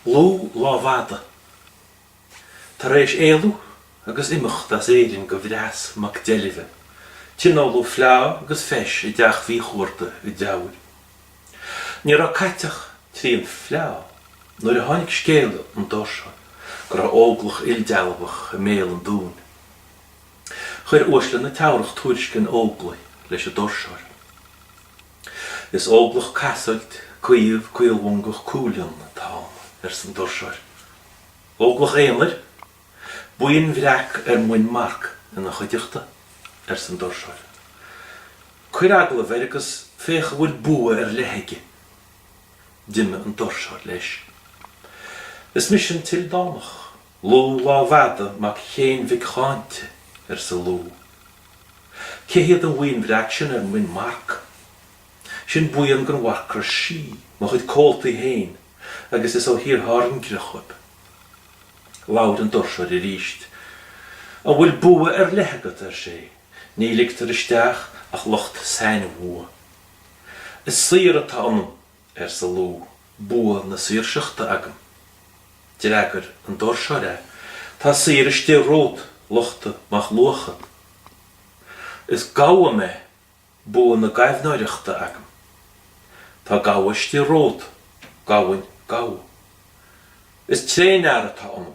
Lugh Lámhfhada. Tar éis éalú agus imeacht as Éirinn do Bhreas mac Deilbhe, tionóladh fleá agus feis i dteach Mhíchuarta i dTeamhair. Ní raibh caite ach trian fleá nuair a tháinig scéala ón doirseoir go raibh óglach ildealbhach i mbéal an dúin. Chuir uaisle na Teamhrach tuairisc an óglaigh leis an doirseoir. Is óglach casfhoilt, caomh, caolmhongach cúilfhionn atá ann, arsa an doirseoir. Óglach aonair? Buíon bhreac ar muin marc ina chuideachta, arsa an doirseoir. Cuir agallamh air agus féach an bhfuil bua ar leith aige. D'imigh an doirseoir leis. Is mise an tIldánach. Lugh Lámhfhada mac Chéin mhic Cháinte, arsa Lugh. Cé hiad an bhuíon bhreac sin ar muin marc? Sin buíon den Mharcra Sí, mo chuid comhaltaí féin, agus is ó Thír Thairngire dhóibh. Labhair an doirseoir arís. An bhfuil bua ar leith agat? ar sé. Ní ligtear isteach ach lucht sainbhua. Is saor atá ionam. arsa Lugh, bua na saoirseachta agam. D'fhreagair an doirseoir é, Tá saor istigh romhat, Luchta mac Luachad. Is gabha mé, bua na gaibhneoireachta agam. Tá gabha istigh romhat, Gabhainn Gabha. Is tréanfhear atá ionam,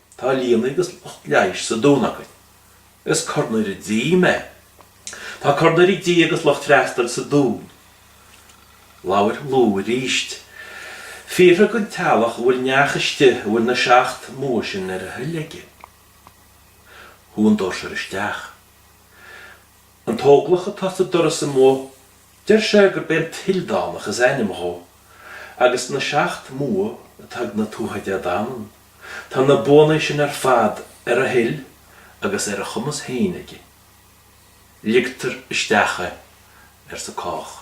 Tá lianna agus lucht leighis sa Dún againn. Is cornaire dí mé. Tá cornaire dí agus lucht freastail sa Dún. Labhair Lú arís. Fiafraigh den teaghlach an bhfuil neach istigh a bhfuil na seacht mbua sin ar a thoil aige. Chuaigh an doirseoir isteach. An t-óglach atá sa doras amuigh deir sé gurb é an tIldánach is ainm dhó, agus na seacht mbua atá ag na Tuatha Dé Danann tá na buanna sin ar fad ar a thoil agus ar a chumas féin aige. Ligtear isteach é, arsa cách.